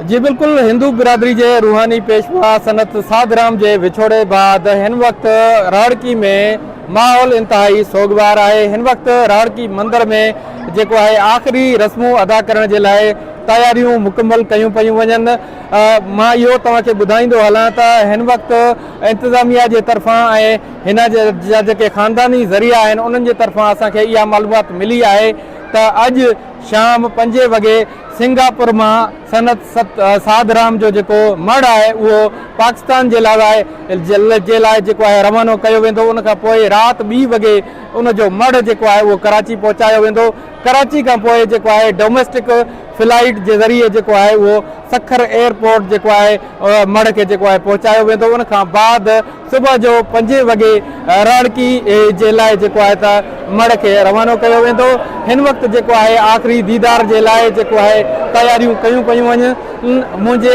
جي بلڪل هندو برادري جي روحاني پيشوا سنت ساڌ رام جي وڇوڙي بعد هن وقت راهڙڪي ۾ ماحول انتهائي سوڳوار آهي هن وقت راهڙڪي مندر ۾ جيڪو آهي آخري رسمون ادا ڪرڻ جي لاء تياريون مڪمل ڪيون پيون وڃن مان اهو توهان کي ٻڌائيندو هلان ته هن وقت انتظاميا جي طرفان ۽ هن جا جيڪي خانداني ذريعا آهن انهن جي طرفان اسان کي اها معلومات ملي آهي ته اڄ شام پنجين وڳي سنگاپور مان سنت ساڌ رام جو جيڪو مڙهه آهي اهو پاڪستان جي لاء جي لاء جيڪو آهي روانو ڪيو ويندو ان کان پوء رات ٻي وڳي ان جو مڙهه جيڪو آهي اهو ڪراچي پهچايو ويندو ڪراچي کان پوء جيڪو آهي ڊوميسٽڪ فلائيٽ جي ذريعي جيڪو آهي اهو سکر ايئرپورٽ جيڪو آهي مڙهه کي جيڪو آهي پهچايو ويندو ان کان بعد صبح جو پنجين وڳي راڻڪي جي لاء جيڪو آهي ته مڙهه کي روانو ڪيو ويندو. هن وقت جيڪو آهي آخري ديدار جي لاء جيڪو آهي تياريون ڪيون پيون وڃن. منهنجي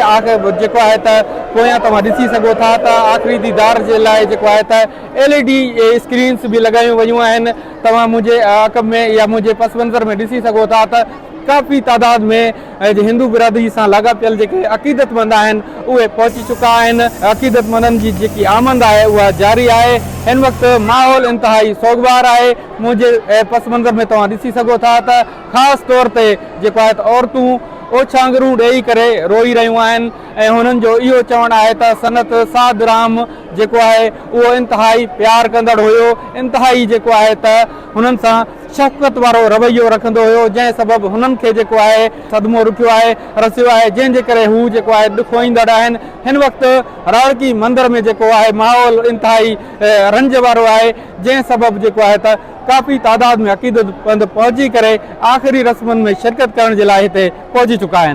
جيڪو آهي ته پويان توهان ڏسي سگهو ٿا ته آخري ديدار جي لاء جيڪو آهي ته ايل اي ڊي اسڪرينز به لڳايون ويون آهن. توهان منهنجي عقب ۾ يا منهنجي پس منظر ۾ ڏسي سگهو ٿا ته ڪافي تعداد ۾ اڄ هندو برادري سان لاڳاپيل جيڪي عقيدتمند آهن اهي پهچي چڪا آهن، عقيدتمندن جي جيڪي آمد آهي اها جاري آهي، هن وقت ماحول انتهائي سوڳوار آهي، منهنجي پس منظر ۾ توهان ڏسي سگهو ٿا ته خاص طور تي جيڪو آهي ته عورتون اوڇانگرون ڏيئي ڪري روئي رهيون آهن ۽ هنن جو اهو چوڻ آهي ته سنت سعد رحم جيڪو آهي اهو انتهائي پيار ڪندڙ هيو، انتهائي جيڪو آهي ته هنن سان. شفقت وارو رويو رکندو هيو جنهن سبب هنن کي جيڪو آهي صدمو رٺيو آهي رسيو آهي جنهن جي ڪري هو جيڪو آهي ڏکوئيندڙ آهن هن وقت راڻڪي مندر ۾ جيڪو آهي ماحول انتهائي رنج وارو آهي جنهن سبب جيڪو آهي ته ڪافي تعداد ۾ عقيدت مند پهچي ڪري آخري رسمن ۾ شرڪت ڪرڻ جي لاء هتي پهچي چڪا آهن.